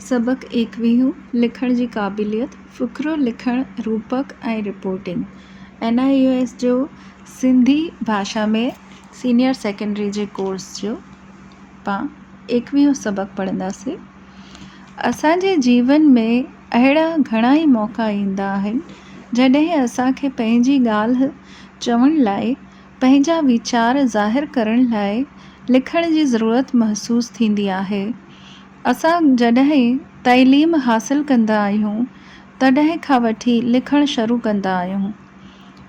سبق ايڪويهون، لکڻ جي قابليت، فقرو لکڻ، روپڪ ۽ reporting, N I O S جو سنڌي ڀاشا ۾ سينيئر سيڪنڊري جي ڪورس جو پان ايڪويهون سبق پڙهنداسين. اسان جي جيون ۾ اهڙا گهڻا ئي موقعا ايندا آهن جڏهن اسان کي پنهنجي ڳالهه چوڻ لاء پنهنجا ويچار ظاهر ڪرڻ لاء لکڻ جي ضرورت محسوس ٿيندي آهي. اسان جڏهن تعليم حاصل ڪندا آهيون تڏهن کان وٺي لکڻ شروع ڪندا آهيون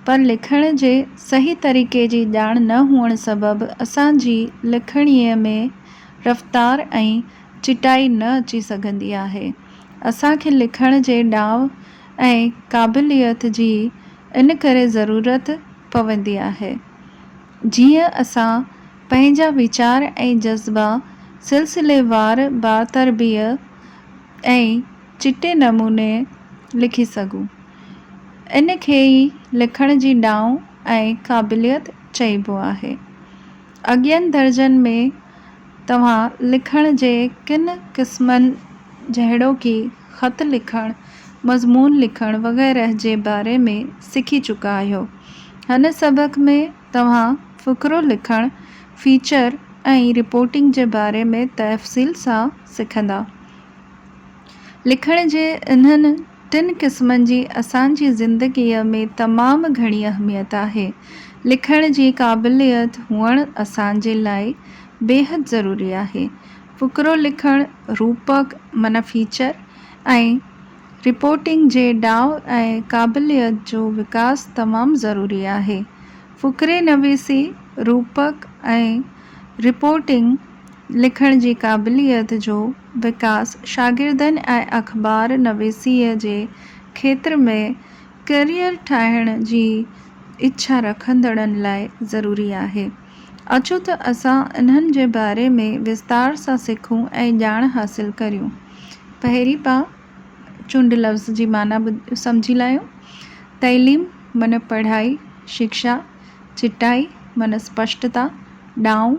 پر لکڻ جي صحيح طريقي جي ڄاڻ نه هئڻ سبب اسان جي لکڻيء ۾ رفتار ۽ چٽائي نه اچي سگهندي آهي. اسان کي لکڻ جي ڏانء ۽ قابليت جي ان ڪري ضرورت پوندي آهي جيئن اسان پنهنجا ويچار ۽ جذبا سلسليوار باتربيي ۽ چٽي نموني لکي سگهون. ان کي ئي لکڻ جي ڏانء ۽ قابليت چئبو آهي. اڳين درجن ۾ توهان لکڻ جي ڪن قسمن جهڙوڪي، خط لکڻ، مضمون لکڻ وغيره جي باري ۾ سکي چڪا آهيو. هن سبق ۾ توهان فقرو لکڻ، فيچر ۽ رپورٽنگ جي باري ۾ تفصيل سان سکندا. لکڻ جي انهن. ٽن قسمن جي اسان جي زندگيء ۾ تمام گهڻي اهميت آهي. لکڻ جي قابليت هئڻ اسان جي لاء بيحد ضروري آهي. فقرو لکڻ، روپڪ معنيٰ فيچر ۽ رپورٽنگ جي ڏاء ۽ قابليت جو وڪاس تمام ضروري آهي. فقري نويسي، روپڪ ۽ رپورٽنگ، لکڻ جي قابليت جو وڪاس شاگردن ۽ اخبار نويسيء جي کيتر ۾ ڪيريئر ٺاهڻ جي اڇا رکندڙن لاء ضروري آهي. اچو ته اسان انهن جي باري ۾ وستار سان سکون ۽ ڄاڻ حاصل ڪريون. پهرين پاء چنڊ لفظ جي معنيٰ سمجهي لاهيون. تعليم معنيٰ پڙهائي، شڪشا، چٽائي معنيٰ اسپشٽتا، ڏانء،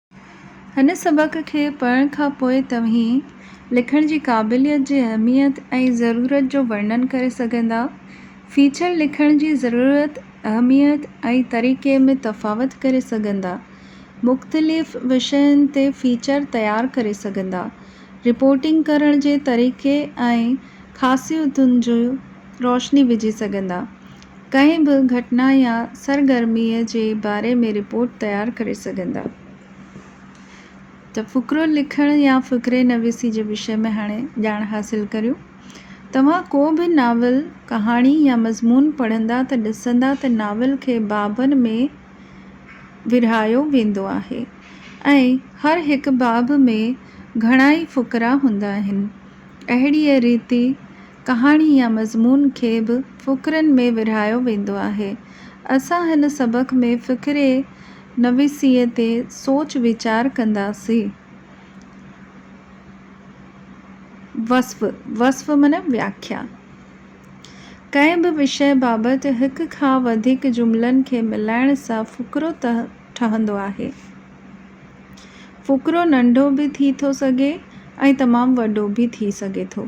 هن سبق کي پڙهڻ کان پوء توهين لکڻ جي قابليت جي اهميت ۽ ضرورت جو ورنن ڪري سگهندا. فيچر لکڻ جي ضرورت، اهميت ۽ طريقي ۾ تفاوت ڪري سگهندا. مختلف وشين تي فيچر تيار ڪري سگهندا. رپورٽنگ ڪرڻ جي طريقي ۽ خاصيتن جي روشني وجهي سگهندا. ڪنهن به گهٽنا يا سرگرميء جي باري ۾ رپورٽ تيار ڪري سگهندا ته فقرو لکڻ يا فقري نويسي جي وشي ۾ هاڻي ڄاڻ حاصل ڪريون. توهان ڪو به ناول، ڪهاڻي يا مضمون پڙهندا ته ڏسندا ته ناول کي بابن ۾ ورهايو ويندو آهي ۽ هر هڪ باب ۾ گهڻائي فقرا هوندا آهن. اهڙيء ريتي ڪهاڻي يا مضمون کي به فقرن ۾ ورهايو ويندو آهي. اسان هن سبق ۾ فقري نويسيء تي سوچ ويچار ڪنداسين. وصف، وصف معنيٰ وياکيا. ڪنهن به وشي بابت هڪ کان وڌيڪ جملن کي ملائڻ سان فقرو ٺهندو آهي. فقرو ننڍو به ٿي ٿو سگهي ۽ تمام وڏو به ٿي سگهي ٿو.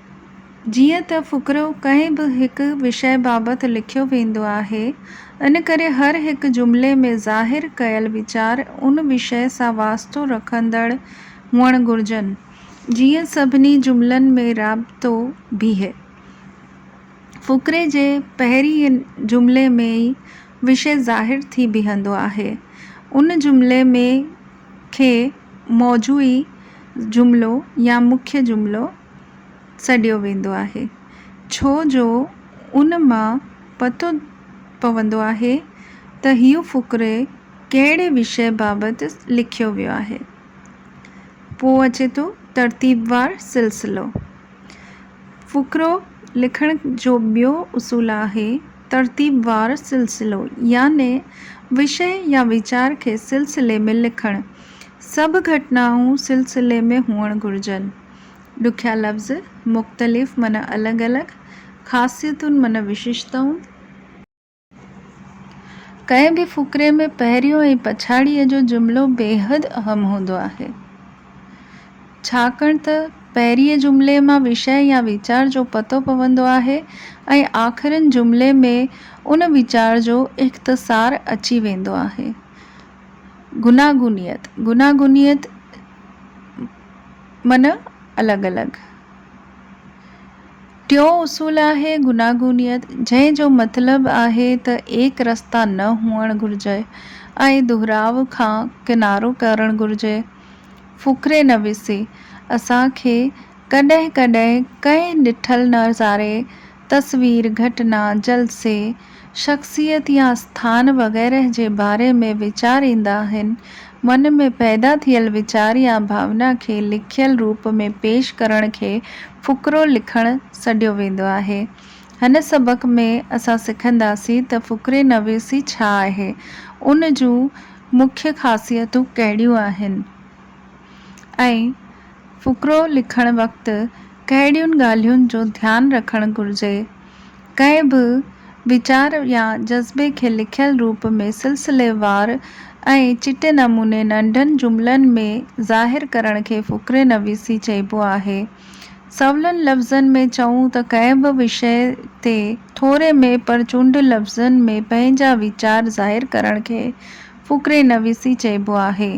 جيئن ته فقرو ڪنهن به هڪ وشي بابت لکيو ويندو آهي، ان ڪري هر هڪ جملي ۾ ظاهر ڪيل ويچار ان وشي سان واسطو رکندڙ هئڻ گهرجن، جيئن سڀني جملن ۾ رابطو بيهي. فقري جي پهرئين جملي ۾ ئي وشي ظاهر ٿي بيهندو آهي. ان جملي ۾ کي موضوعي جملو يا مکيه جملو. سڏيو ويندو آهي، ڇو جو ان مان پتو پوندو آهي ته هيء فقري ڪهڙي وشيه بابت لکيو ويو آهي. پوء اچي ٿو ترتيبوار سلسلو. فقرو لکڻ جو ٻيو اصول آهي ترتيبوار سلسلو يعني وشيه يا ويچار کي سلسلي ۾ لکڻ. سڀ گهٽنائون سلسلي ۾ هئڻ گهرجن. ڏکيا لفظ، مختلف معنيٰ الڳ الڳ، خاصيتون معنيٰ وشيشتائون. ڪنهن به فقري ۾ پهريون ۽ پڇاڙيء جو جملو بيحد اهم هوندو آهي، ڇاڪاڻ ته پهرئين جملي مان وشيه يا ويچار جو پتو پوندو آهي ۽ آخرين جملي ۾ ان ويچار جو اختصار اچي ويندو آهي. گوناگونيت، گوناگونيت، معنيٰ الڳ الڳ. ٽيون اصول آهي گوناگونيت، جنهن جو مطلب آهي ته ايڪ رستا نه هئڻ گهرجي ۽ دهراء کان ڪنارو ڪرڻ گهرجي. فقري نويسي اسان کي ڪڏهن ڪڏهن ڪنهن ڏٺل نظاري تصوير، گهٽنا، جلسي، شخصيت يا اسٿان وغيره جي باري ۾ ويچار ايندا آهن. من ۾ پيدا ٿيل ويچار يا ڀاونا کي لکيل روپ ۾ پيش ڪرڻ کي فقرو لکڻ سڏيو ويندو آهي. هن سبق ۾ اسان سکنداسين ته فقري نويسي ڇا آهي؟ ان جون مکيه خاصيتون ڪهڙيون آهن؟ ۽ فقرو لکڻ وقت ڪهڙين ڳالهين جو ڌيان رکڻ گهرجي؟ ڪنهن به ويچار يا جذبي کي لکيل روپ ۾ سلسليوار ۽ چٽي نموني ننڍن جملن ۾ ظاهر ڪرڻ کي فقري نويسي چئبو آهي. سولن لفظن ۾ چئون ته ڪنهن به وشي تي ٿوري ۾ پر چونڊ لفظن ۾ پنهنجا ويچار ظاهر ڪرڻ کي فقري نويسي چئبو آهي.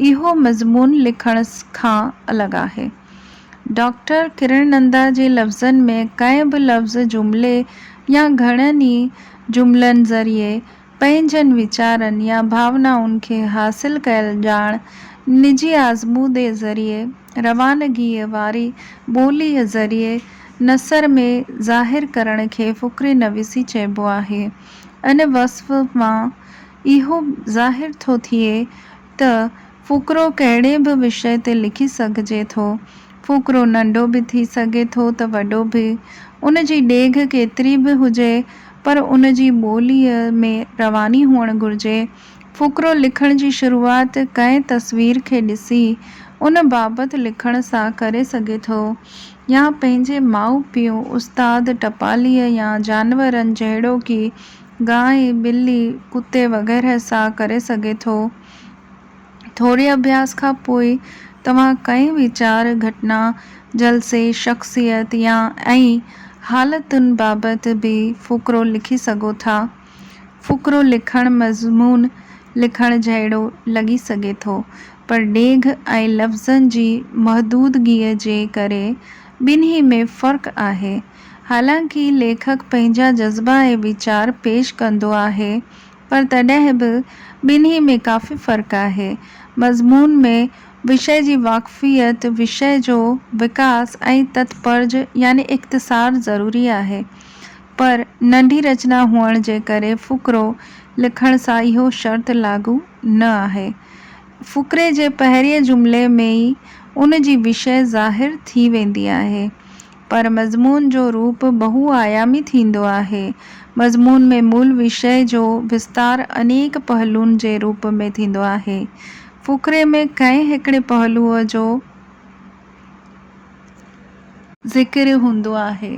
اهو مضمون لکڻ کان الڳ آهي. ڊاڪٽر ڪرڻ نندا جي لفظن ۾ ڪنهن به لفظ، جملي يا گهڻن ئي جملن ذريعي پنهنجن ويچارن يا ڀاونائن کي حاصل ڪيل ڄاڻ نجي آزمودي ذريعي روانگيء واري ٻوليء ذريعي نثر ۾ ظاهر ڪرڻ کي فڪري نويسي چئبو آهي. ان وصف مان اهو ظاهر ٿو ٿئي ته فقرو ڪهڙي به وشي تي لکي سگهجي ٿو. فقرو ننڍو به ٿي سگهي ٿو ته وڏو به. ان جي ڊيگهه ڪيتري به هجي پر ان جي ٻوليء ۾ رواني هئڻ گهرجي. فقرو لکڻ جي شروعات ڪنهن تصوير کي ڏسي ان بابت لکڻ سان ڪري سگهي ٿو يا پنهنجي ماء پيء، استاد، ٽپاليء يا جانورن جهڙوڪي گانء، ٻلي، ڪتي وغيره سان ڪري سگهي ٿو. ٿوري اڀياس کان پوء توهان ڪنهن ويچار، گهٽنا، جلسي، شخصيت يا ۽ حالتن بابت به فقرو لکي سگهو ٿا. فقرو لکڻ مضمون لکڻ جهڙو لڳي سگهي ٿو، پر ڊيگهه ۽ لفظن جي محدودگيء جي ڪري ٻنهي ۾ فرق آهي. حالانڪ ليکڪ پنهنجا جذبا ۽ ويچار پيش ڪندو آهي پر تڏهن به ٻنهي ۾ ڪافي فرق آهي. مضمون ۾ وشي جي واقفيت، وشي جو وڪاس ۽ تتپرج يعني اختصار ضروري آهي. پر ننڍي رچنا هئڻ جي ڪري فقرو لکڻ سان اهو شرط لاڳو نه آهي. فقري جي پهرئين جملي ۾ ئي ان جي وشي ظاهر ٿي ويندي آهي. پر مضمون جو روپ بهو آيامي ٿيندو آهي. مضمون ۾ مول وشيه جو وستار انيڪ پهلون جي روپ ۾ ٿيندو آهي. فقري ۾ ڪنهن هڪڙي پهلوء جو ذڪر هوندو آهي.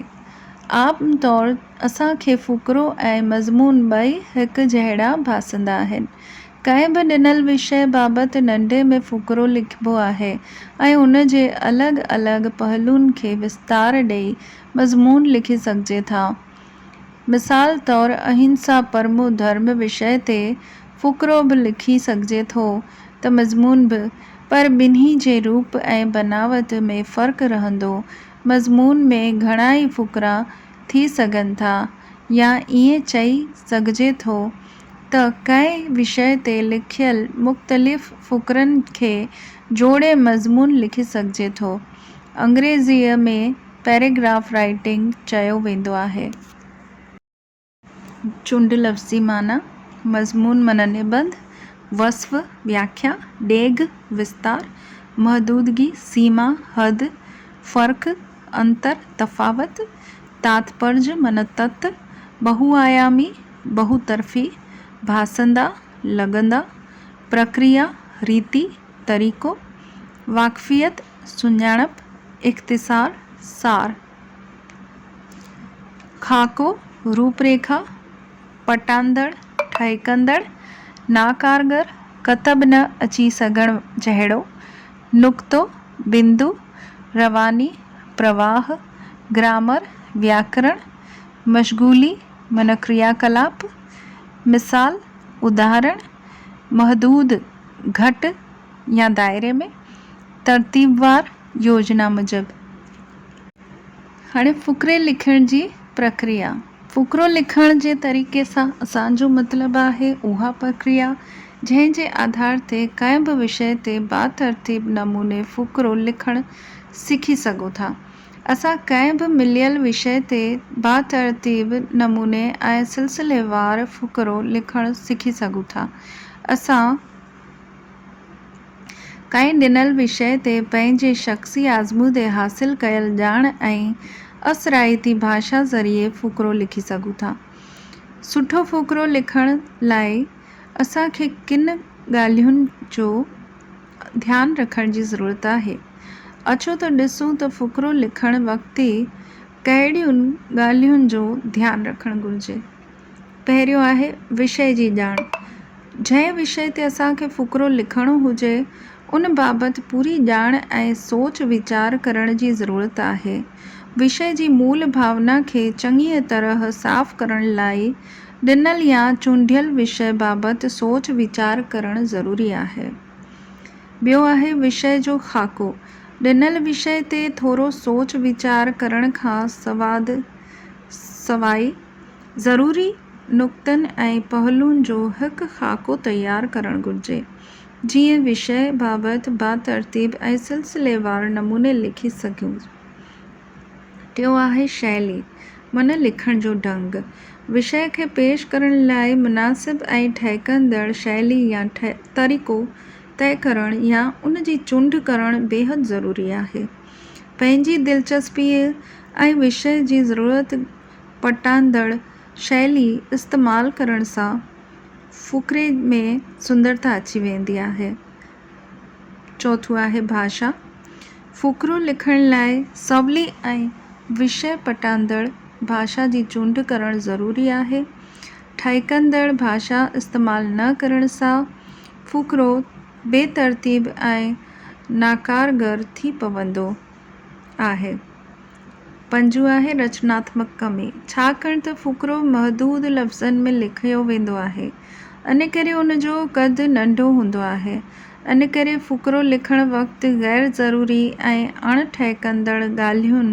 عام طور اسان کي فقرو ۽ مضمون ٻئي هڪ جهڙا ڀاسندا آهن. ڪنهن به ڏنل وشيه بابت ننڍي ۾ فقرو لکبو آهي ۽ ان جي الڳ الڳ پهلون کي وستار ڏيئي مضمون لکي سگهجي ٿا. مثال طور اهنسا پرمو ڌرم وشيه تي فقرو به لکي سگهجي ٿو ته مضمون به، پر ٻنهي جي روپ ۽ بناوت ۾ فرق رهندو، مضمون ۾ گهڻائي فقرا ٿي سگهن ٿا يا ائين چئي سگهجي ٿو ته ڪنهن وشيه تي لکيل مختلف فقرن کي جوڙي مضمون لکي سگهجي ٿو. انگريزيء ۾ پيراگراف رائيٽنگ چيو ويندو آهي. چونڊ لفظي معنيٰ، مضمون معنيٰ نبند، وصف، وياکيا، ڊيگهه، وستار، محدودگي، سيما، حد، فرق، انتر، تفاوت، تاتپرج معنيٰ تت، بهوآيامي، ٻهوطرفي ڀاسندا لڳندا، پرڪريا، ريتي، طريقو، واقفيت، سڃاڻپ، اختصار، سار، خاڪو، روپريکا، پٽاندڙ، ٺهڪندڙ، ناڪارگر، ڪتب نه اچي سگهڻ جهڙو، نقطو، بندو، رواني، پرواهه، گرامر، وياڪرڻ، مشغولي معنيٰ ڪرياڪلاپ، مثال، اداهرڻ، محدود، گهٽ يا دائري ۾، ترتيبوار، يوجنا موجب. هاڻي فقري لکڻ جي پرڪريا. فقرو لکڻ جي طريقي سان اسان جو مطلب آهي اها پرڪريا جنهن جي آڌار تي ڪنهن به وشي تي باترتيب نموني فقرو لکڻ سکي سگهو ٿا. اسان ڪنهن به مليل وشي تي باترتيب نموني ۽ سلسليوار فقرو لکڻ سکي سگهون ٿا. اسان ڪنهن ڏنل وشي تي پنهنجي شخصي آزمودي حاصل ڪيل ڄاڻ ۽ اثرائتي ڀاشا ذريعي فقرو لکي سگهون ٿا. سٺو فقرو لکڻ لاء اسان کي ڪن ڳالهين جو. ڌيان رکڻ جي ضرورت آهي. اچو ته ڏسون ته فقرو لکڻ وقت ڪهڙين ڳالهين جو ڌيان رکڻ گهرجي. پهريون آهي وشي جي ڄاڻ. جنهن وشي تي اسان کي فقرو لکڻو هجي ان بابت پوري ڄاڻ ۽ سوچ ويچار ڪرڻ جي ضرورت آهي. وشي جي مول ڀاونا کي چڱيء طرح صاف ڪرڻ لاء ڏنل يا چونڊيل وشي بابت سوچ ويچار ڪرڻ ضروري آهي. ٻيو آهي وشي جو خاڪو. ڏنل وشي تي ٿورو سوچ ويچار ڪرڻ کان سواد سواء ضروري نقطن ۽ پهلون جو هڪ خاڪو تيار ڪرڻ گهرجي. جيئن وشي بابت با ترتيب ۽ سلسليوار نموني لکي سگهجي. ٽيون آهي شيلي، من لکڻ جو ڍنگ. وشيه کي پيش ڪرڻ لاء مناسب ۽ ٺهڪندڙ شيلي يا طريقو طئي ڪرڻ يا ان جي چونڊ ڪرڻ بيحد ضروري آهي. پنهنجي دلچسپيء ۽ وشيه جي ضرورت پٽاندڙ شيلي استعمال ڪرڻ سان فقري ۾ سندرتا اچي ويندي آهي. چوٿون آهي ڀاشا. فقرو لکڻ لاء سولي ۽ وشي پٽاندڙ ڀاشا جي چونڊ ڪرڻ ضروري آهي. ٺهڪندڙ ڀاشا استعمال نه ڪرڻ سان فقرو بي ترتيب ۽ ناڪارگر ٿي پوندو آهي. پنجون آهي رچناتمڪ ڪمي، ڇاڪاڻ ته فقرو محدود لفظن ۾ لکيو ويندو آهي، ان ڪري ان جو قد ننڍو هوندو آهي، ان ڪري فقرو لکڻ وقت غير ضروري ۽ اڻ ٺهڪندڙ ڳالهين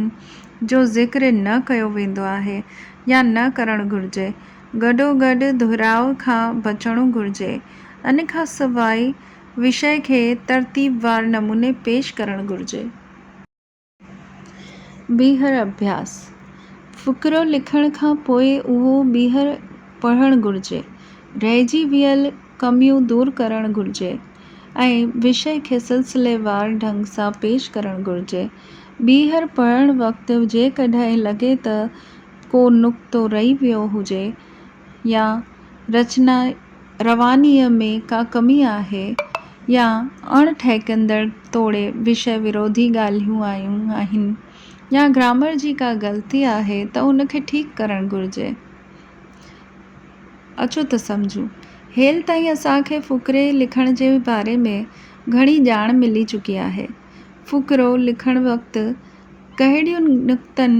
جو ذڪر نه ڪيو ويندو آهي يا نه ڪرڻ گهرجي، گڏوگڏ دهراء کان بچڻو گهرجي، ان کان سواء وشي کي ترتيبوار نموني پيش ڪرڻ گهرجي. ٻيهر اڀياس، فقرو لکڻ کان پوء اهو ٻيهر پڙهڻ گهرجي. رهجي ويل ڪميون دور ڪرڻ گهرجي ۽ وشي کي سلسليوار ڍنگ سان پيش ڪرڻ گهرجي. ٻيهر پڙهڻ وقت جيڪڏهن لڳي ته ڪو نقطو رهي ويو هجي يا رچنا روانيء ۾ ڪا ڪمي آهي يا اڻ ٺهڪندڙ توڙي وشيه وروڌي ڳالهيون آيون آهن يا گرامر جي ڪا غلطي آهي ته ان کي ٺيڪ ڪرڻ گهرجي. اچو ته سمجهون. هيل تائين اسان کي فقري لکڻ جي باري ۾ گهڻي ڄاڻ ملي چڪي آهي. فقرو لکڻ وقت ڪهڙين نڪتن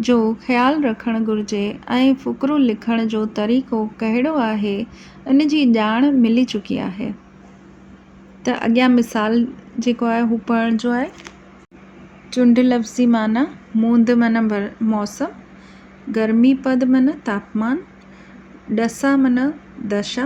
جو خيال رکڻ گهرجي ۽ فقرو لکڻ جو طريقو ڪهڙو آهي ان جي ڄاڻ ملي چڪي آهي ته اڳيان مثال جيڪو آهي هو پڙهجو آهي. چنڊ لفظي معنيٰ، موند معنيٰ موسم، گرمي پد معنيٰ تاپمان، ڏسا معنيٰ دشا،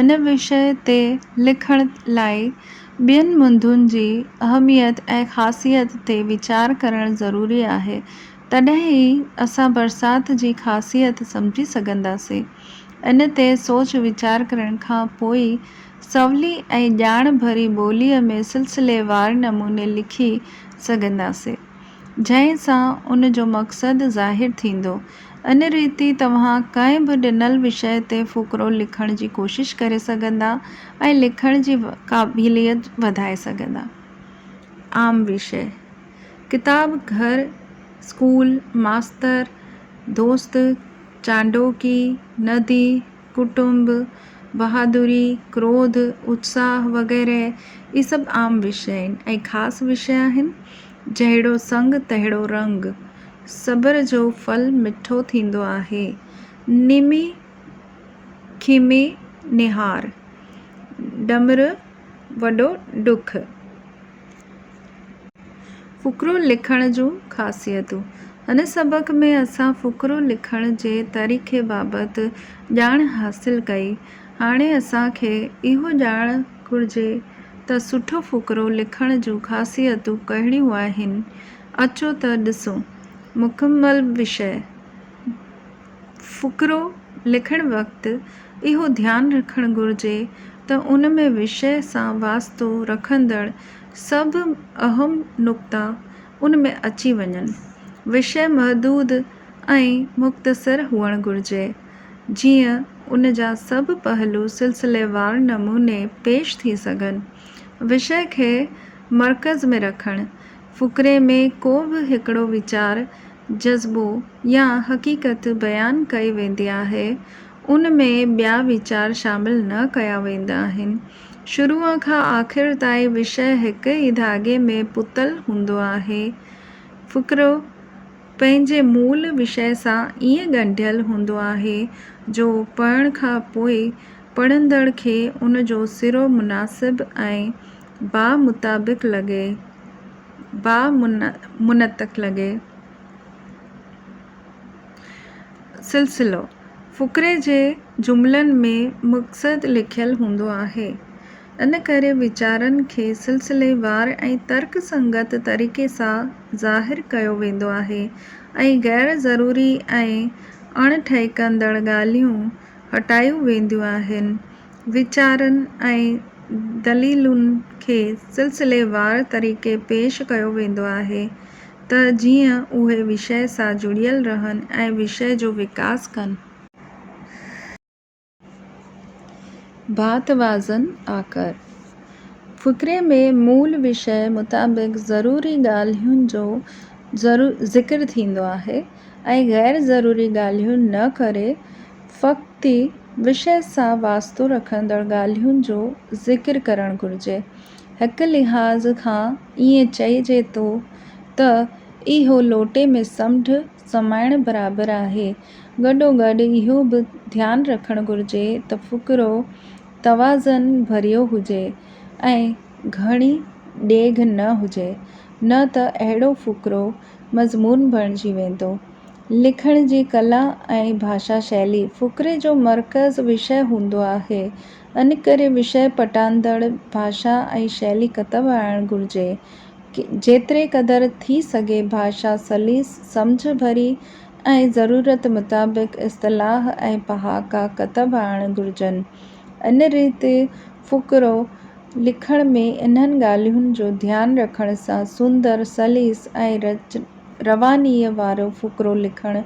ان وشيء تي لکڻ لاء ٻين منڌن جي اهميت ۽ خاصيت تي ويچار ڪرڻ ضروري آهي، تڏهن ئي اسان برسات جي خاصيت سمجهي سگهنداسين. ان تي سوچ ويچار ڪرڻ کان پوء ئي سولي ۽ ڄاڻ ڀري ٻوليء ۾ سلسليوار نموني لکي سگهنداسين، جنهن سان ان جو مقصد ظاهر ٿيندو. ان ريتي توهان ڪنهن به ڏنل وشيه تي فقرو لکڻ جي ڪوشش ڪري سگهندا ۽ لکڻ جي قابليت وڌائي سگهندا. عام وشيه، ڪتاب، گهر، اسڪول، ماستر، دوست، چانڊوڪي، ندي، ڪٽنب، بهادري، ڪروڌ، اتساهه وغيره اهي سڀ عام وشي آهن ۽ خاص وشي آهن. جهڙو سڱ تهڙو رڱ. صبر جو ڦل مٺو ٿيندو آهي. نيمي کيمي نهار. ڏمر وڏو ڏک. فقرو لکڻ جون خاصيتون، هن سبق ۾ اسان فقرو لکڻ جي طريقي بابت ڄاڻ حاصل ڪئي. هاڻي اسان کي اهو ڄاڻڻ گهرجي ته سٺو فقرو لکڻ جون خاصيتون ڪهڙيون آهن. اچو ته ڏسون. مڪمل وشي. فقرو لکڻ وقت اهو ڌيان رکڻ گهرجي ته ان ۾ وشيه سان واسطو رکندڙ سڀ اهم نقطا ان ۾ اچي وڃن. وشيه محدود ۽ مختصر هئڻ گهرجي، جيئن ان جا سڀ پهلو سلسليوار نموني پيش ٿي سگهن. وشيه کي مرڪز ۾ رکڻ، فقري ۾ ڪو به هڪڙو ويچار جذبو يا حقيقت بيان ڪئي ويندي آهي، ان ۾ ٻيا ويچار شامل نه ڪيا ويندا آهن. شروع کان آخر تائين وشيه هڪ ئي ڌاڳي ۾ پتل هوندو آهي. فقرو پنهنجي مول وشيه سان ائين ڳنڍيل هوندو آهي جو پڙهڻ کان پوء پڙهندڙ کي ان جو سرو مناسب ۽ باء مطابق لڳي. با منطق لڳي. سلسلو، فقري جي جملن ۾ مقصد لکيل هوندو آهي، ان ڪري ويچارن کي سلسليوار ۽ ترڪ سنگت طريقي سان ظاهر ڪيو ويندو آهي ۽ غير ضروري ۽ اڻ ٺهڪندڙ ڳالهيون هٽايون وينديون آهن. ويچارن ۽ دليلن کي سلسليوار طريقي پيش ڪيو ويندو آهي ته جيئن اهي وشي سان جڙيل رهن ۽ وشي جو وڪاس ڪن. ڀات وازن آڪر فقري ۾ مول وشي مطابق ضروري ڳالهين جو ذڪر ٿيندو آهي. ۽ غير ضروري ڳالهيون نه ڪري فقطي وشي سان واسطو رکندڙ ڳالهين جو ذڪر ڪرڻ گهرجي. هڪ لحاظ کان ائين چئجي ٿو ته اهو لوٽي ۾ سمنڊ سمائڻ برابر آهي. گڏوگڏ اهو به ڌيان رکڻ گهرجي ته فقرو توازن ڀريو هجي ۽ گهڻي ڊيگهه نه هجي، نه ته اهڙو فقرو مضمون بڻجي ويندو. لکڻ جي ڪلا ۽ ڀاشا شيلي فقري جو مرڪز وشيه هوندو آهي، انڪري وشيه پٽاندڙ ڀاشا ۽ شيلي ڪتب آڻڻ گهرجي. جيتري قدر ٿي سگهي ڀاشا سليس، سمجهه ڀري ۽ ضرورت مطابق اصطلاح ۽ پهاڪا ڪتب آڻڻ گهرجن. ان ريت فقرو لکڻ ۾ انهن ڳالهين جو ڌيان رکڻ سان سندر، سليس ۽ روانيء وارو فقرو لکڻ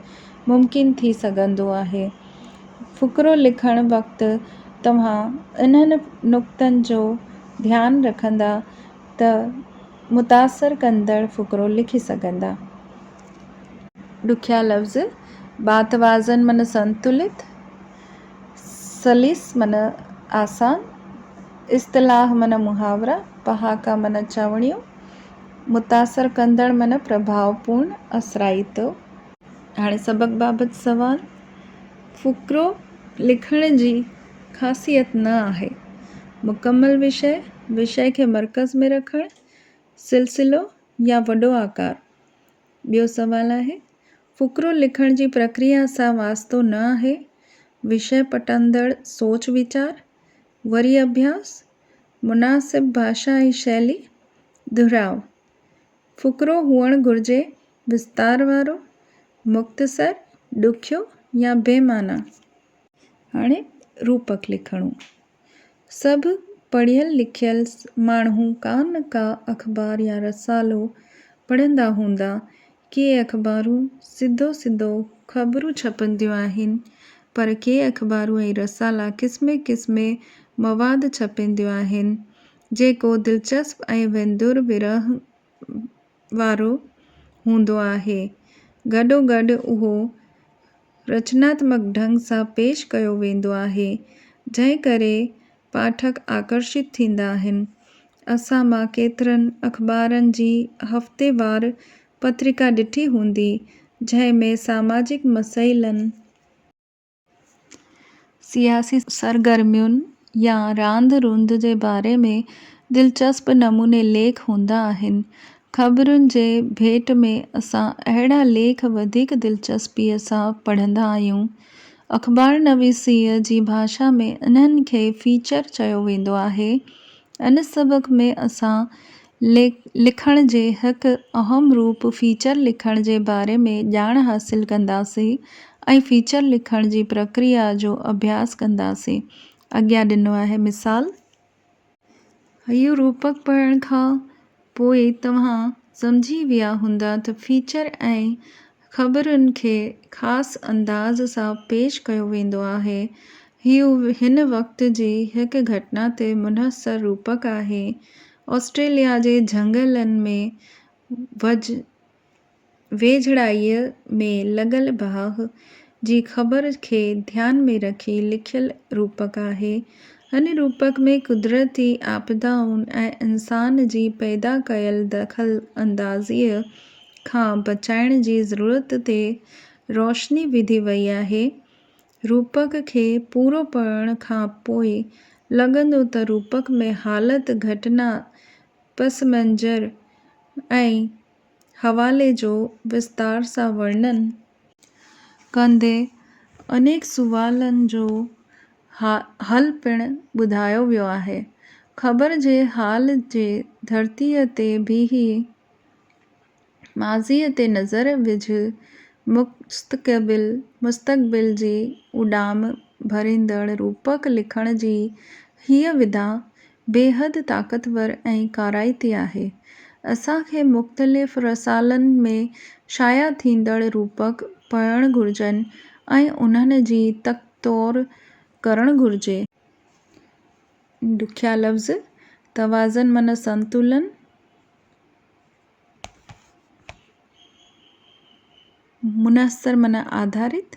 ممڪن ٿي سگهندو آهي. فقرو لکڻ وقت توهان انهن نقطن جو ڌيان رکندا ته متاثر ڪندڙ فقرو لکي سگهندا. ڏکيا لفظ باتوازن معنيٰ سنتلت، سليس معنيٰ آسان، اصطلاح معنيٰ محاورا، پهاڪا معنيٰ چوڻيون، متاثر ڪندڙ معنيٰ پرڀاء پورڻ، اثرائتو. هاڻي سبق بابت سوال. فقرو لکڻ جي خاصيت نه آهي. مڪمل وشي، وشي کي مرڪز ۾ رکڻ، سلسلو يا وڏو آڪار. ٻيو سوال آهي. فقرو لکڻ جي پرڪريا سان واسطو نه آهي، وشيه پٽندڙ سوچ ويچار، وري اڀياس، مناسب ڀاشا ۽ شيلي، دهراء. فقرو هئڻ گهرجي وستار وارو، مختصر، ڏکيو يا بي معنيٰ. هاڻي روپڪ لکڻو. سڀ پڙهيل لکيل ماڻهو ڪا نه ڪا اخبار يا رسالو پڙهندا هوندا. ڪي اخبارون سڌو سڌو خبرون ڇپنديون آهن پر ڪي اخبارون ۽ رسالا قسمي قسمي مواد ڇپينديون آهن جيڪو دلچسپ ۽ ويندر ورهه وارو هوندو آهي. گڏوگڏ اهو رچناتمڪ ڍنگ سان پيش ڪيو ويندو آهي، جنهن ڪري پاٺڪ آڪرشت ٿيندا آهن. اسان مان ڪيترن اخبارن جي هفتيوار پترڪا ڏٺي هوندي، جنهن ۾ ساماجڪ مسئلن، سياسي سرگرمين يا راند روند جي باري ۾ دلچسپ نموني ليک هوندا آهن. خبرن جي ڀيٽ ۾ اسان اهڙا ليک وڌيڪ دلچسپيء سان پڙهندا آهيون. اخبارنويسيء جي ڀاشا ۾ انهن کي فيچر چيو ويندو آهي. ان سبق ۾ اسان ليک لکڻ جي هڪ اهم روپ فيچر لکڻ جي باري ۾ ڄاڻ حاصل ڪنداسين ۽ فيچر لکڻ جي پرڪريا جو اڀياس ڪنداسين. اڳيان ڏنو آهي مثال. اهو روپڪ پڙهڻ کان پوء توهان سمجهي ويا هوندا ته فيچر ۽ خبرن کي خاص انداز سان پيش ڪيو ويندو آهي. هيء هن وقت جي هڪ گهٽنا تي منحصر روپڪ آهي. آسٽريليا جي جهنگلن ۾ ويجهڙائيء ۾ لڳل باهه جي خبر کي ڌيان ۾ رکي لکيل روپڪ آهي. هن روپڪ ۾ قدرتي آپدائن ۽ انسان جي پيدا ڪيل دخل اندازيء کان بچائڻ جي ضرورت تي روشني وڌي وئي آهي. روپڪ کي پورو پڙهڻ کان پوء لڳندو ته روپڪ ۾ حالت، گهٽنا، پس منظر ۽ حوالي جو وستار سان ورڻن ڪندي انيڪ سوالن جو حل پڻ ٻڌايو ويو آهي. خبر جي حال جي ڌرتيء تي بيهي ماضيء تي نظر وجهه مستقبل جي اڏام ڀريندڙ روپڪ لکڻ جي هيء وڌا بيحد طاقتور ۽ ڪارائتي آهي. اسان کي مختلف رسالن ۾ شايع ٿيندڙ روپڪ پڙهڻ گهرجن ۽ انهن جي تک تور ڪرڻ گهرجي. ڏکيا لفظ، توازن معنيٰ سنتولن، منحصر معنيٰ آڌارت،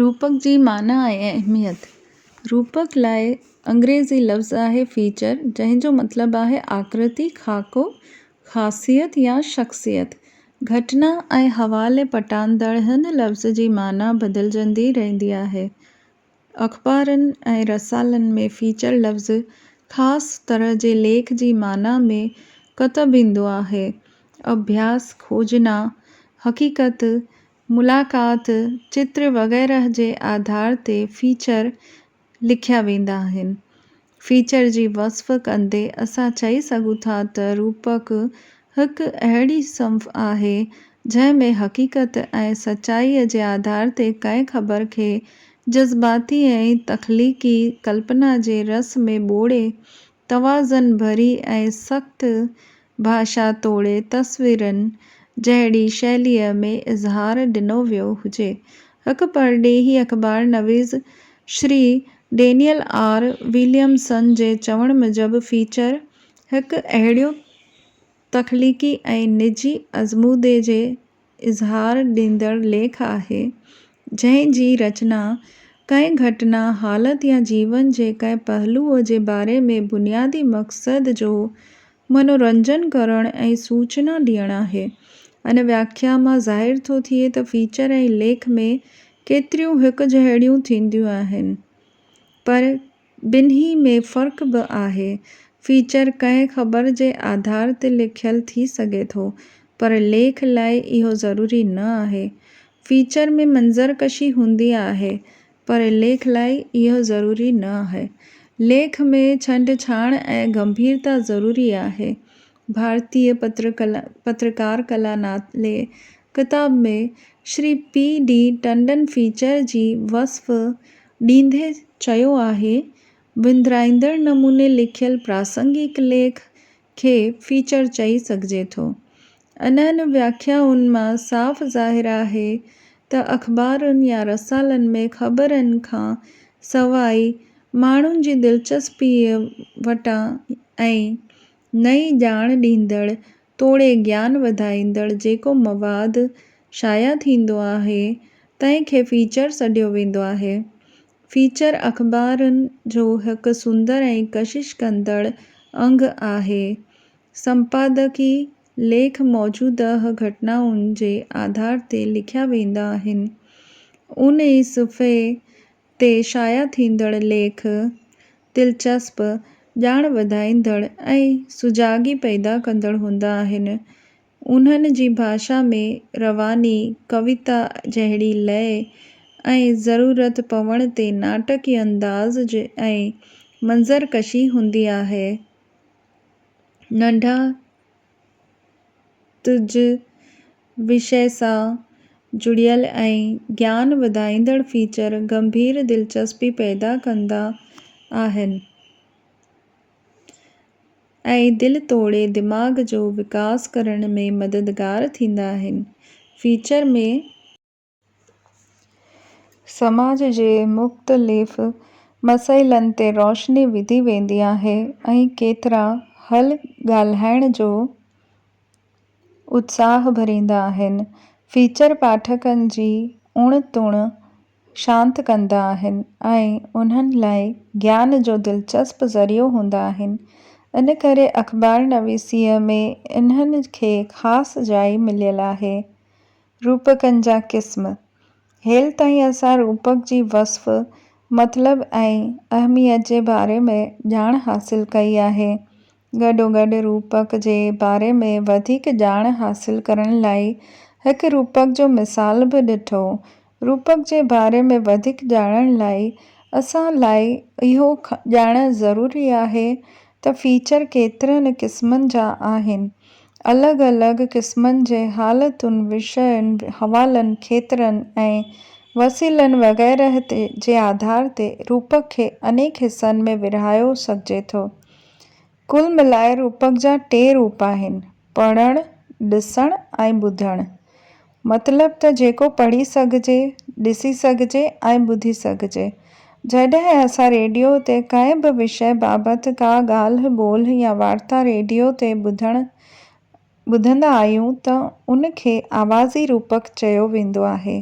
روپڪ جي معنيٰ ۽ اهميت، روپڪ لاء انگريزي لفظ آهي Feature جنهن جو مطلب آهي آڪرتي، خاڪو، خاصيت يا شخصيت. گهٽنا ۽ حوالي پٽاندڙ هن لفظ جي معنيٰ بدلجندي رهندي آهي. اخبارن ۽ رسالن ۾ فيچر لفظ خاص طرح جي ليک جي معنيٰ ۾ ڪتب ايندو آهي. اڀياس، کوجنا، حقيقت، ملاقات، چتر وغيره جي آڌار تي فيچر لکيا ويندا آهن. فيچر جي وصف ڪندي اسان چئي سگهون ٿا ته روپڪ هڪ اهڙي صنف آهي جنهن ۾ حقيقت ۽ سچائيء جي آڌار تي ڪنهن خبر کي جذباتي ۽ تخليقي ڪلپنا جي رس ۾ ٻوڙي توازن ڀري ۽ سخت ڀاشا توڙي تصويرن جهڙي شيليء ۾ اظهار ڏنو ويو هجي. هڪ پرڏيهي اخبار نويس شري ڊينيل آر وليمسن جي چوڻ موجب فيچر هڪ اهڙيون تخليقي ۽ نجي ازمودي جي اظهار ڏيندڙ ليک آهي، جنهن جي رچنا ڪنهن گهٽنا، حالت يا جيون جي ڪنهن پهلوء جي باري ۾ بنيادي مقصد جو منورنجن ڪرڻ ۽ سوچنا ڏيڻ آهي. ان وياکيا مان ظاهر ٿو ٿئي ته فيچر ۽ ليک ۾ ڪيتريون هڪجهڙيون ٿينديون آهن، پر ٻنهي ۾ فرق به آهي. فيچر ڪنهن خبر جي آڌار تي لکيل ٿي سگهي ٿو، پر ليک لاء اهو ضروري نه آهي. فيچر ۾ منظر ڪشي هوندي آهي، پر ليک لاء اهو ضروري نه آهي. ليک ۾ ڇنڊ ڇاڻ ۽ گنڀيرتا ضروري آهي. ڀارتي پترڪار ڪلا نالي ڪتاب ۾ Shri P D Tandon feature جي وصف ڏيندي چيو آهي، وندرائيندڙ نموني لکيل پراسنگڪ ليک کي فيچر چئي سگهجي ٿو. انهن وياکيائن مان صاف ظاهر آهي ته اخبارن يا رسالن ۾ خبرن کان سواء ماڻهن جي دلچسپيء وٽان ۽ نئين ڄاڻ ڏيندڙ توڙي گيان وڌائيندڙ جيڪو مواد شايع ٿيندو آهي، تنهن کي فيچر سڏيو ويندو آهي. فيچر اخبارن جو هڪ سندر ۽ ڪشش ڪندڙ انگ آهي. سمپادڪي ليک موجوده گهٽنائن جي آڌار تي لکيا ويندا آهن. ان ئي صفحي تي شايع ٿيندڙ ليک دلچسپ، ڄاڻ وڌائيندڙ ۽ سجاڳي پيدا ڪندڙ هوندا آهن. انهن جي ڀاشا ۾ رواني، ڪويتا جهڙي لئه ۽ ضرورت پوڻ تي ناٽڪي انداز ۽ منظر ڪشي هوندي آهي. ننڍا. تج وشي سان جڙيل ۽ گيان وڌائيندڙ فيچر گنڀير دلچسپي پيدا ڪندا آهن ۽ دل توڙي دماغ جو وڪاس ڪرڻ ۾ مددگار ٿيندا آهن. فيچر ۾. سماج جي مختلف مسئلن تي روشني وڌي ويندي آهي ۽ ڪيترا حل ڳالهائڻ جو اتساهه ڀريندا آهن. فيچر پاٺڪن جي اڻ تڻ شانت ڪندا آهن ۽ انهن لاء گيان جو دلچسپ ذريعو هوندا آهن. ان ڪري اخبارنويسيء ۾ انهن کي خاص جاء مليل آهي. روپڪن جا قسم، هيل تائين اسان روپڪ جي وصف، مطلب ۽ اهميت جي باري ۾ ڄاڻ حاصل ڪئي آهي. گڏوگڏ روپڪ جي باري ۾ وڌيڪ ڄاڻ حاصل ڪرڻ لاء هڪ روپڪ جو مثال به ڏٺو. روپڪ جي باري ۾ وڌيڪ ڄاڻڻ لاء اسان لاء اهو ڄاڻڻ ضروري آهي ته فيچر ڪيترن قسمن جا آهن. الڳ الڳ قسمن جي حالتن، وشين، حوالن، کيترن ۽ وسيلن وغيره تي جي آڌار تي روپڪ کي انيڪ حصن ۾ ورهايو سگهجي ٿو. ڪل ملائي روپڪ جا ٽي روپ آهن، پڙهڻ، ڏسڻ ۽ ٻڌڻ. مطلب ته جيڪو پڙهي سگهجي، ڏسي سگهجي ۽ ٻڌي سگهجي. جڏهن اسان ريڊيو تي ڪنهن به وشي بابت ڪا ڳالهه ٻولهه يا وارتا ريڊيو تي ٻڌڻ ٻڌندا آهيون ته ان کي آوازي روپڪ چيو ويندو آهي.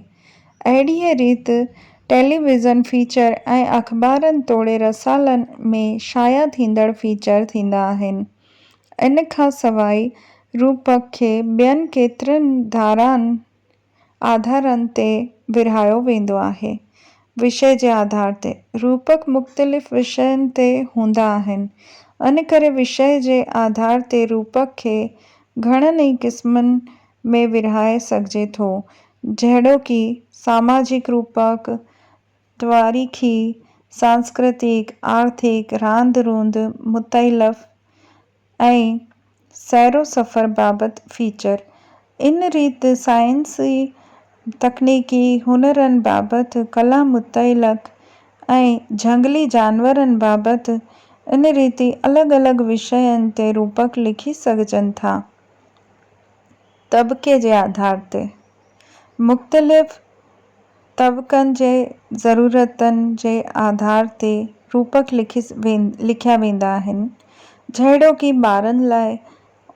اهڙيء ريت ٽيلي ويزن فيچر ۽ اخبارن توڙي رسالن ۾ شايع ٿيندڙ فيچر ٿيندا آهن. ان کان سواء روپڪ کي ٻين ڪيترن ڌارائن، آڌارن، تي ورهايو ويندو آهي. وشي جي آڌار تي روپڪ مختلف وشين تي هوندا آهن. ان ڪري وشي جي آڌار تي روپڪ کي گهڻن ئي قسمن ۾ ورهائي سگهجي ٿو، جهڙوڪ، ساماجڪ روپڪ، تواريخي، سانسڪرتيڪ، آرٿڪ، راند روند، متعلف ۽ سيرو سفر بابت فيچر. ان ريت سائنسي، تڪنيڪي، هنرن بابت، ڪلا متعلق ۽ جهنگلي جانورن بابت ان ريتي الڳ الڳ وشين تي روپڪ لکي سگهجن ٿا. طبقي جي آڌار تي مختلف طبقن جي ضرورتن جي آڌار تي روپڪ لکيا ويندا آهن، جهڙوڪ ٻارن لاء،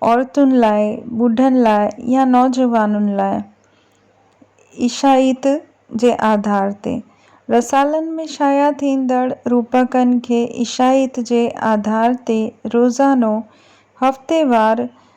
عورتن لاء، ٻڍن لاء يا نوجوانن لاء. عيشائيت جي آڌار تي رسالن ۾ شايع ٿيندڙ روپڪن کي عيشائيت جي آڌار تي روزانو، هفتيوار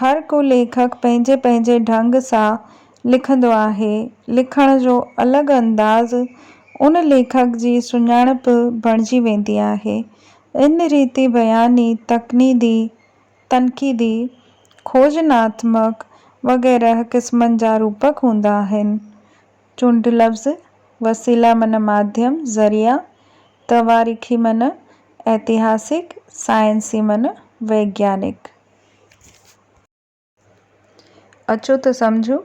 هر ڪو ليکڪ پنهنجي پنهنجي ڍنگ سان لکندو آهي. لکڻ جو الڳ انداز ان ليکڪ جي سڃاڻپ بڻجي ويندي آهي. ان ريتي بياني، تقنيدي، تنقيدي، کوجناتمڪ وغيره قسمن جا روپڪ هوندا آهن. چونڊ لفظ، وسيلا معنيٰ ماڌيم، ذريعا، تواريخي معنيٰ ائتهاسڪ، سائنسي معنيٰ ويگيانڪ. اچو ته سمجهون.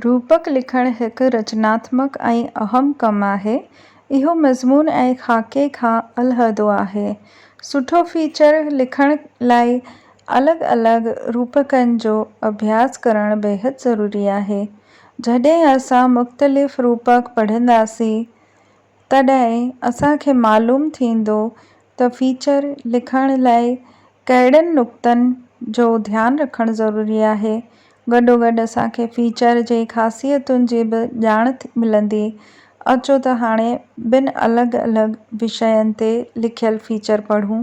روپڪ لکڻ هڪ رچناتمڪ ۽ اهم ڪم آهي. اهو مضمون ۽ خاڪي کان علحدو آهي. سٺو فيچر لکڻ لاء الڳ الڳ روپڪن جو اڀياس ڪرڻ بيحد ضروري آهي. جڏهن اسان مختلف روپڪ پڙهنداسين. تڏهن اسان کي معلوم ٿيندو ته فيچر لکڻ لاء ڪهڙن نقطن جو ڌيان رکڻ ضروري آهي. گڏوگڏ اسان کي فيچر جي خاصيتن جي به ڄاڻ ملندي. اچو ته هاڻي ٻن الڳ الڳ وشين تي لکيل فيچر پڙهون.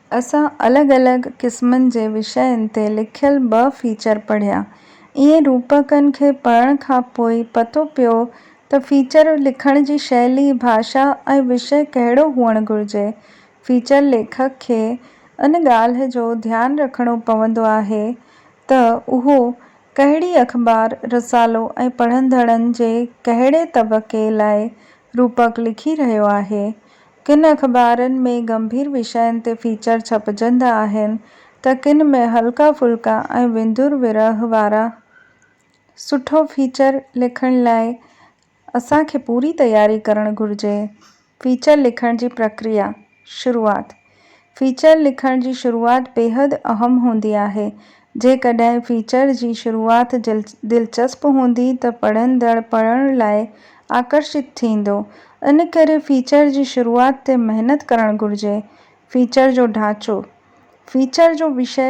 اسان الڳ الڳ قسمن جي وشين تي لکيل ٻه فيچر پڙهيا. ائين روپڪن کي پڙهڻ کان پوء ئي پتو پيو ته فيچر لکڻ جي شيلي، ڀاشا ۽ وشي ڪهڙو هئڻ گهرجي. فيچر ليکڪ کي ان ڳالهه جو ڌيان رکڻو پوندو آهي ته اهو ڪهڙي اخبار، رسالو ۽ پڙهندڙن جي ڪهڙي طبقي لاء روپڪ لکي رهيو آهي. ڪن اخبارن ۾ ڳنڀير وشين تي فيچر ڇپجندا آهن ته ڪن ۾ هلڪا ڦلڪا ۽ وندر ورهه وارا. سٺو فيچر لکڻ لاء اسان کي پوري تياري ڪرڻ گهرجي. فيچر لکڻ جي پرڪريا، شروعات، فيچر لکڻ جي شروعات بيحد اهم هوندي آهي. جيڪڏهن فيچر جي شروعات دلچسپ هوندي ته پڙهندڙ پڙهڻ لاء آڪرشت ٿيندو. ان ڪري فيچر جي شروعات تي محنت ڪرڻ گهرجي. فيچر جو ڍانچو، فيچر جو وشي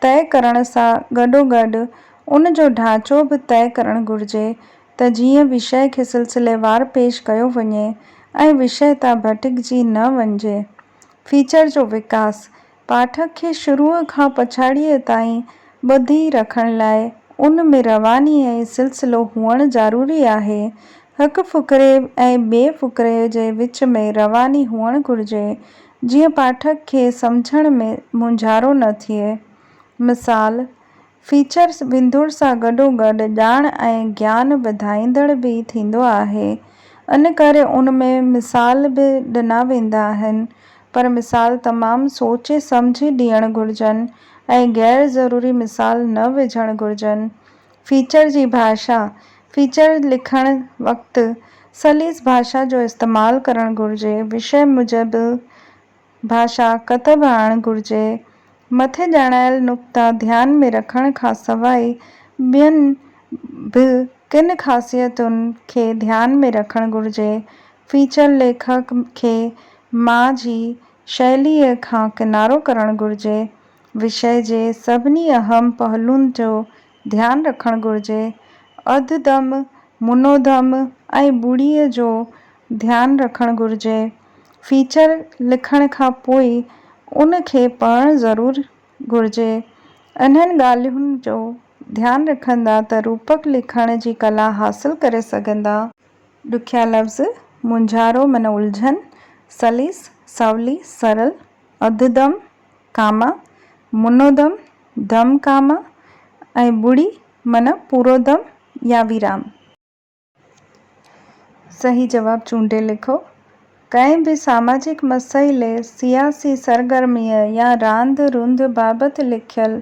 طئي ڪرڻ سان گڏوگڏ ان جو ڍانچو به طئي ڪرڻ گهرجي ته جيئن وشي کي سلسليوار پيش ڪيو وڃي ۽ وشي تان ڀٽڪجي نه وڃجي. فيچر جو وڪاس پاٺڪ کي شروع کان پڇاڙيء تائين ٻڌي رکڻ لاء ان ۾ رواني ۽ سلسلو هئڻ ضروري آهي. هڪ فقري ۽ ٻئي فقري جي وچ ۾ رواني هئڻ گهرجي، جيئن پاٺڪ کي سمجهڻ ۾ مونجهارو نه ٿئي. مثال، فيچرز ويندوڙ سان گڏوگڏ ڄاڻ ۽ گيان وڌائيندڙ به ٿيندو آهي، ان ڪري ان ۾ مثال به ڏنا ويندا آهن، پر مثال تمام سوچي سمجهي ڏيڻ گهرجن ۽ غير ضروري مثال نه وجهڻ گهرجن. فيچر جي ڀاشا، فيچر لکڻ وقت سليس ڀاشا جو استعمال ڪرڻ گهرجي، وشي موجب، ڀاشا ڪتب آڻ گهرجي. مٿي ڄاڻايل نقطا ڌيان ۾ رکڻ کان سواء ٻين به ڪن خاصيتن کي ڌيان ۾ رکڻ گهرجي. فيچر ليکڪ کي مان جي شيليء کان ڪنارو ڪرڻ گهرجي. وشيه جي سڀني اهم پهلون جو ڌيان رکڻ گهرجي. اڌ دم، منو دم ۽ ٻوڙيء جو ڌيان رکڻ گهرجي. فيچر لکڻ کان پوء ان کي پڙهڻ ضرور گهرجي. انهن ڳالهين جو ڌيان رکندا ته روپڪ لکڻ جي ڪلا حاصل ڪري سگهندا. ڏکيا لفظ، مونجهارو معنيٰ الجهن، سليس، سولي، سرل، اڌ دم، ڪاما، منو دم، دم ڪاما ۽ ٻڙي معنيٰ پورو دم يا ويرام. صحيح جواب چونڊي لکو. ڪنهن به ساماجڪ مسئلي، سياسي سرگرميء يا راند روند بابت لکيل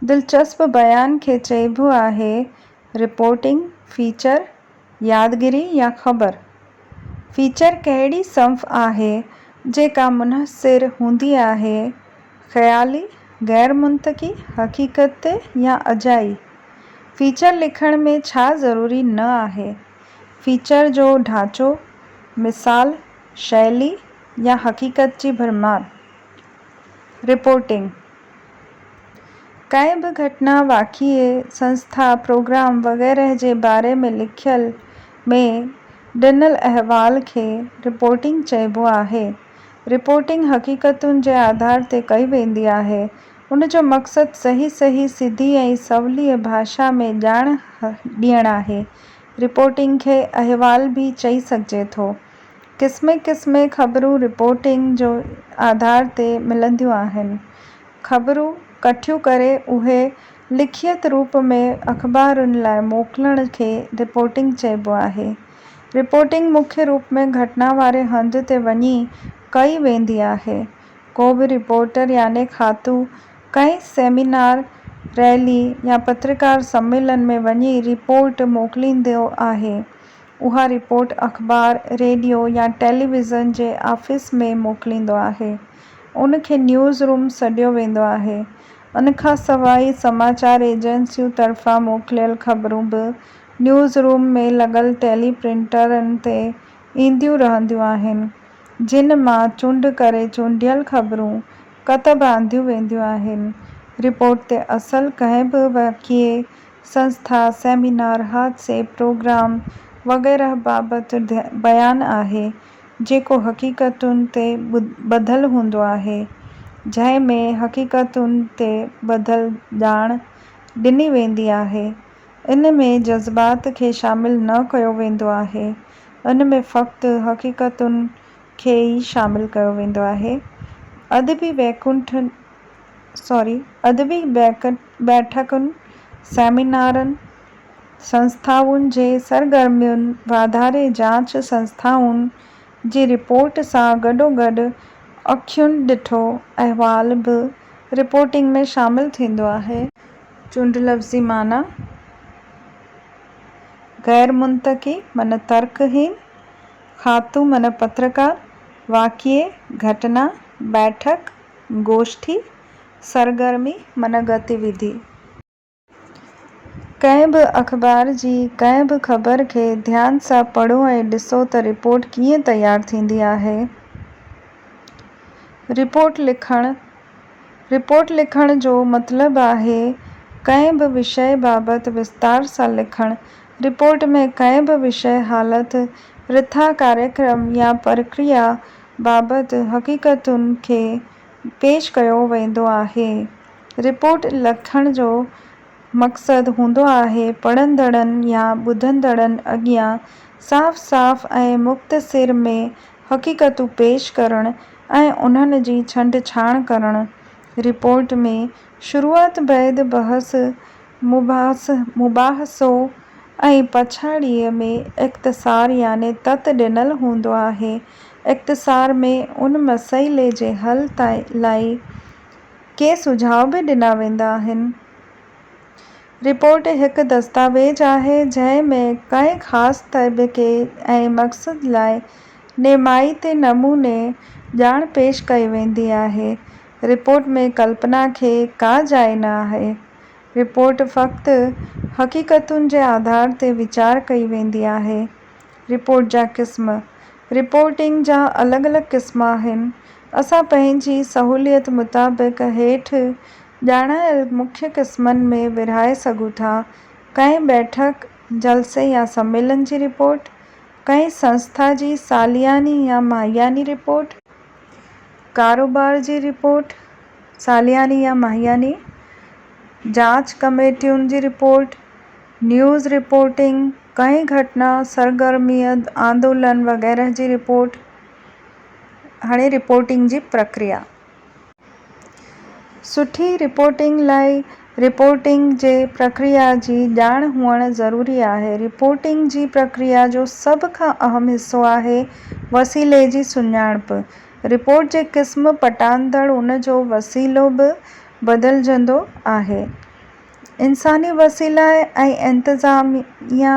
دلچسپ بيان کي چئبو آهي رپورٽنگ، فيچر، يادگيري يا خبر، فيچر ڪهڙي صنف آهي جيڪا منحصر هوندي آهي، خيالي، غير منطقي، حقيقتي يا اجائي؟ فيچر لکڻ ۾ ڇا ضروري نه آهي؟ فيچر جو ڍانچو، مثال، شيلي يا حقيقت جي ڀرمار؟ رپورٽنگ، ڪنهن به گهٽنا، واقعي، سنسٿا، پروگرام وغيره جي باري ۾ لکيل ۾ ڏنل احوال کي رپورٽنگ چئبو آهي. رپورٽنگ حقيقتن جي آڌار تي ڪئي ويندي آهي. ان جو مقصد صحيح صحيح، سڌي ۽ سوليء ڀاشا ۾ ڄاڻ ڏيڻ آهي. رپورٽنگ کي احوال به چئي سگهجي ٿو. قسمين قسمين خبرون رپورٽنگ جو آڌار تي ملنديون آهن. خبرون ڪٺيون ڪري اهي لکيت روپ ۾ اخبارن لاء موڪلڻ کي رپورٽنگ چئبو آهي. رپورٽنگ مکيه روپ ۾ گهٽنا واري هنڌ تي وڃي ڪئي ويندي آهي. ڪو به رپورٽر يعني کاتو ڪنهن سيمينار، ريلي يا پترڪار سميلن ۾ وڃي رپورٽ موڪليندو آهي. اها رپورٽ اخبار، ريڊيو يا ٽيليويزن جي آفيس ۾ موڪليندو آهي. ان کي نيوز روم سڏيو ويندو آهي. ان کان سواء سماچار ايجنسيون طرفان موڪليل خبرون به نيوز روم ۾ لڳل ٽيلي پرنٽرن تي اينديون رهنديون آهن، جن مان چونڊ ڪري چونڊيل خبرون ڪتب آنديون وينديون آهن. رپورٽ تي اصل ڪنهن به واقعي سنسٿا، سيمينار، حادثي، پروگرام وغيره بابت بيان آهي، جيڪو حقيقتن تي ٻڌل هوندو آهي، جنهن ۾ حقيقتن تي ٻڌل ڄاڻ ڏني ويندي آهي. ان ۾ جذبات کي شامل نه ڪيو ويندو آهي، ان ۾ فقط حقيقتن کي ئي شامل ڪيو ويندو آهي. ادبي بيڪنٺ Sorry، ادبي بيڪنٺ بيٺڪن، سيمينارن، سنسٿائن جي سرگرمين، واڌاري جاچ سنسٿائن جي رپورٽ سان گڏوگڏ اکين ڏٺو احوال به رپورٽنگ ۾ شامل ٿيندو آهي. چونڊ لفظي معنيٰ، غير منطقي معنيٰ ترڪ هين، خاطو معنيٰ پترڪار، واقعي، گهٽنا، بيٺڪ، گوشٺي، سرگرمي من گتيوڌي. ڪنهن به اخبار جي ڪنهن به خبر کي ڌيان سان پڙهو ۽ ڏسو ته رپورٽ ڪيئن تيار ٿيندي آهي. رپورٽ لکڻ، رپورٽ لکڻ جو مطلب آهي ڪنهن به وشي بابت وستار سان لکڻ. رپورٽ ۾ ڪنهن به وشي، حالت، رٿا، ڪاريڪرم يا پرڪريا بابت حقيقتن کي پيش ڪيو ويندو آهي. رپورٽ لکڻ جو مقصد هوندو آهي پڙهندڙن يا ٻڌندڙن اڳيان صاف صاف ۽ مختصر ۾ حقيقتون پيش ڪرڻ ۽ انهن جي ڇنڊ ڇاڻ ڪرڻ. رپورٽ ۾ شروعات بعد بحث مباحث، مباحثو، ۽ پڇاڙيء ۾ اختصار يعني تت ڏنل هوندو آهي. اختصار ۾ ان مسئلي جي حل لاء ڪي سجهاء به ڏنا ويندا آهن. رپورٽ هڪ دستاويز آهي، جنهن ۾ ڪنهن خاص طبقي ۽ مقصد لاء نمائتي نموني ڄاڻ پيش ڪئي ويندي آهي. رپورٽ ۾ ڪلپنا کي ڪا جاء نه آهي. رپورٽ فقط حقيقتن جي آڌار تي ويچار ڪئي ويندي آهي. رپورٽ جا قسم، رپورٽنگ جا الڳ الڳ قسم آهن. اسان پنهنجي سهوليت مطابق هيٺ ڄاڻايل مکيه قسمن ۾ ورهائي سگهون ٿا، ڪنهن بيٺڪ، جلسي يا سميلن جي رپورٽ، ڪنهن سنسٿا جي سالياني يا ماهياني رپورٽ، ڪاروبار جي رپورٽ، سالياني يا ماهياني جاچ ڪميٽين جي رپورٽ، نيوز رپورٽنگ، ڪنهن گهٽنا، سرگرميء، آندولن وغيره جي رپورٽ. هاڻي رپورٽنگ جي پرڪريا. سٺي رپورٽنگ لاء رپورٽنگ جي پرڪريا جي ڄاڻ هئڻ ضروري آهي. رپورٽنگ جي پرڪريا جو سڀ کان اهم حصو آهي وسيلي جي سڃاڻپ. رپورٽ جي قسم پٽاندڙ ان جو وسيلو به بدلجندو آهي. انساني وسيلا ۽ انتظاميا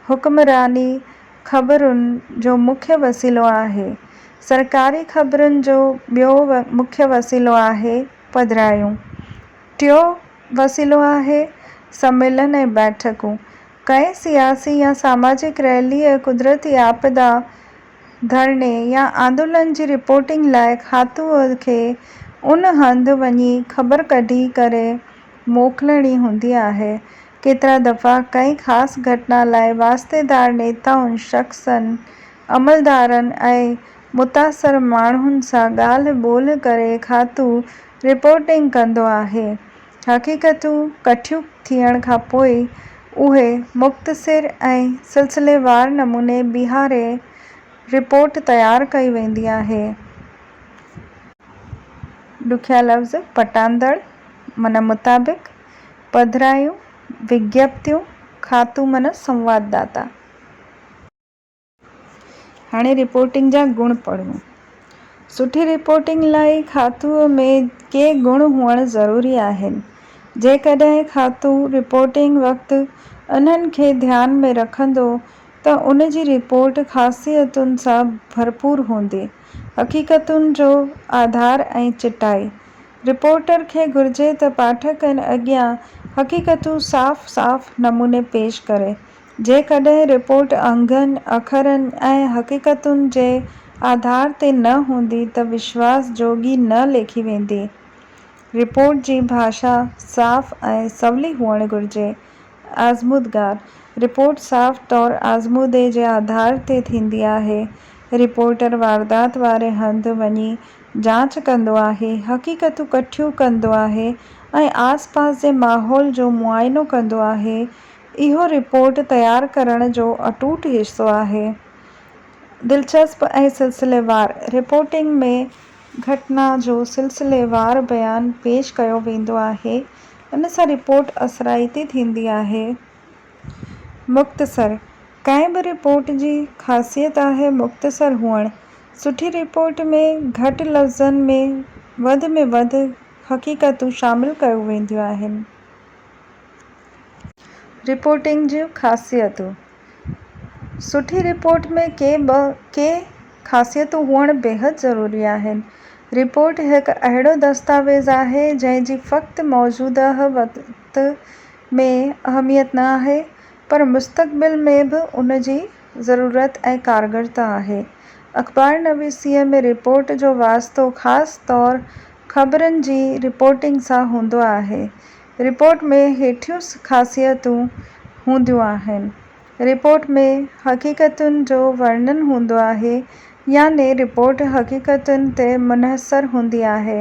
حڪمراني خبرن جو مکيه وسيلو آهي. سرڪاري خبرن جو ٻيو مکيه وسيلو آهي پڌرايون. ٽيو وسيلو آهي سميلن ۽ بيٺڪون. ڪنهن سياسي يا ساماجڪ ريلي، قدرتي آپدا، ڌرڻي يا آندولن جي رپورٽنگ لاء کاتوء کي ان هنڌ وڃي خبر ڪڍي ڪري موڪلڻي هوندي آهي. ڪيترا دفعا ڪنهن خاص گهٽنا لاء واسطيدار نيتائن، شخصن، عملدارن ۽ متاثر ماڻهن سان ڳالهه ٻولهه ڪري کاتو رپورٽنگ ڪندو آهي. حقيقتون ڪٺيون ٿيڻ کان پوء اهي مختصر ۽ سلسليوار نموني بيهاري رپورٽ تيار ڪئي ويندي آهي. ڏکيا لفظ پٽاندڙ من مطابق، پڌرايون، وگيپتيون، خاتون من سنوادداتا. هاڻي رپورٽنگ جا گڻ پڙهون. سٺي رپورٽنگ لاء کاتوء ۾ ڪي گڻ هئڻ ضروري آهن. جيڪڏهن کاتو رپورٽنگ وقت انهن کي ڌيان ۾ رکندو ته ان جي رپورٽ خاصيتن سان ڀرپور هوندي. حقيقتن جو آڌار ۽ چٽائي، رپورٽر کي گهرجي ته پاٺڪن اڳيان حقيقتون صاف صاف نموني پيش ڪري، جيڪڏهن رپورٽ انگن اکرن ۽ حقيقتن جي آڌار تي نه هوندي ته وشواس جوڳي نه ليکي ويندي. رپورٽ جي ڀاشا صاف ۽ سولي هئڻ گهرجي. آزمودگار، رپورٽ صاف طور آزمودي جي آڌار تي ٿيندي آهي. رپورٽر واردات واري هنڌ وڃي جاچ ڪندو آهي، حقيقتون ڪٺيون ڪندو آهي ۽ آس پاس جي ماحول جو معائنو ڪندو آهي اهو رپورٽ تيار ڪرڻ جو اٽوٽ حصو آهي. دلچسپ ۽ سلسليوار رپورٽنگ ۾ گهٽنا جو سلسليوار بيان پيش ڪيو ويندو آهي. ان سان رپورٽ اثرائتي ٿيندي آهي. مختصر، ڪنهن به رپورٽ جي خاصيت آهي مختصر هئڻ. سٺي رپورٽ ۾ گهٽ لفظن ۾ وڌ ۾ وڌ حقيقتون شامل ڪيو وينديون آهن. رپورٽنگ جون خاصيتون، سٺي رپورٽ ۾ ڪي ٻه ڪي خاصيتون هئڻ بيحد ضروري آهن. رپورٽ هڪ اهڙو دستاويز آهي جنهن جي فقط موجوده وقت ۾ اهميت نه آهي پر مستقبل ۾ به ان جي ضرورت ۽ ڪارگرتا آهي. اخبار نويسيء ۾ رپورٽ جو واسطو خاص طور خبرن جي رپورٽنگ سان هوندو آهي رپورٽ ۾ هيٺيون خاصيتون هونديون آهن، رپورٽ ۾ حقيقتن جو ورنن هوندو آهي، يعني رپورٽ حقيقتن تي منحصر هوندي آهي.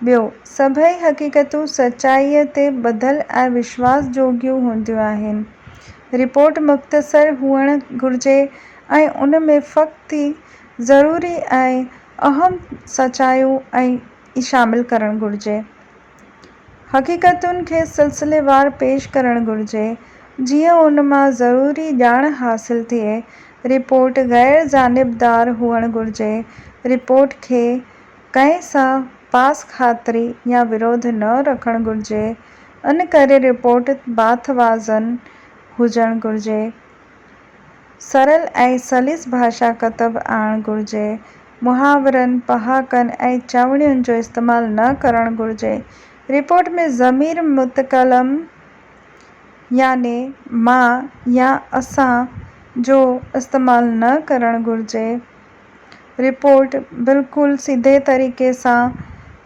ٻيو، سڀئي حقيقتون سچائيء تي ٻڌل ۽ وشواس جوڳيون هونديون آهن. رپورٽ مختصر هئڻ گهرجي ۽ ان ۾ فقط ئي ضروري ۽ اهم سچايون ئي شامل ڪرڻ گهرجي. حقيقتن کي سلسليوار پيش ڪرڻ گهرجي، جيئن ان مان ضروري ڄاڻ حاصل ٿئي. رپورٽ غير جانبدار هئڻ گهرجي. رپورٽ کي ڪنهن سان پاس خاطري يا وروڌ نه رکڻ گهرجي. ان ڪري رپورٽ باٿ وازن هجڻ گهرجي. سرل ۽ سليس ڀاشا ڪتب آڻڻ گهرجي، محاورن، پهاڪن ۽ چوڻين جو استعمال نه ڪرڻ گهرجي. رپورٽ ۾ ضمير متڪلم يعني مان يا اسان جو استعمال نه ڪرڻ گهرجي. رپورٽ بلڪل سڌي طريقي سان.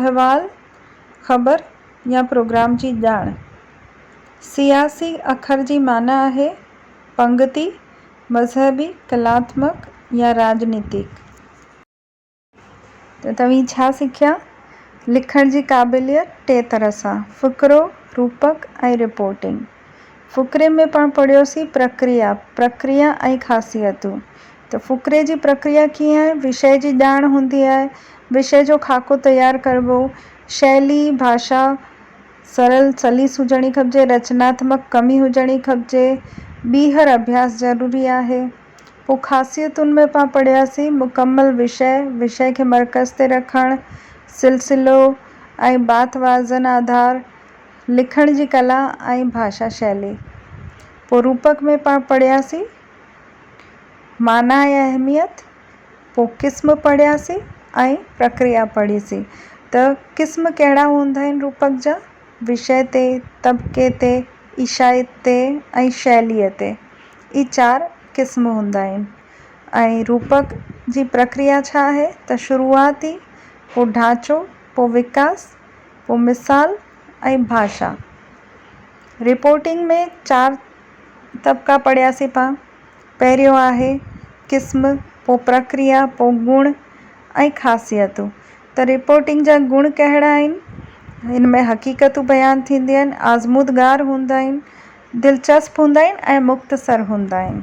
احوال، خبر يا پروگرام جي ڄاڻ. سياسي اکر جي معنيٰ آهي پنگتي، مذهبي، ڪلااتمڪ يا راڄنيتڪ. ته توهين ڇا سکيا؟ لکڻ جي قابليت ٽي طرح سان، فقرو، روپڪ ۽ رپورٽنگ. فقري ۾ پاڻ پڙهيوسين پرڪريا، پرڪريا ۽ خاصيتون ته فقري جي پرڪريا ڪيئن آهي، وشيه جي ڄاڻ هوندي آهي، وشيه جو خاڪو تيار ڪربو، شيلي، ڀاشا، سرل، سليس هجڻي کپجي، رچناتمڪ ڪمي هجڻي کپجي، ٻيهر اڀياس ضروري آهي. پوء خاصيتن ۾ پاڻ پڙهياسين مڪمل وشيه، وشيه کي مرڪز تي رکڻ، سلسلو ۽ بات وازن آڌار، لکڻ جي ڪلا ۽ ڀاشا شيلي پوء روپڪ ۾ پاڻ پڙهياسين، معنيٰ ۽ اهميت پوء قسم پڙهياسين ۽ پرڪريا پڙهيسين ته قسم ڪهڙا هوندا آهن روپڪ جا، وشيه تي، طبقي تي، ايشائيت تي ۽ شيليء تي ئي چار قسم هوندا آهن ۽ روپڪ جي پرڪريا ڇا آهي ته شروعات ئي پوء ڍانچو پوء وڪاس، پوء مثال ۽ ڀاشا. رپورٽنگ ۾ چار طبقا پڙهياسين پا. پهريون آهي قسم، پوء پرڪريا، پوء گڻ ۽ خاصيتون. ته رپورٽنگ جا گڻ ڪهڙا آهن؟ ان ۾ حقيقتون بيان ٿينديون آهن، آزمودگار هوندا آهن، دلچسپ هوندا آهن ۽ مختصر هوندا آهن.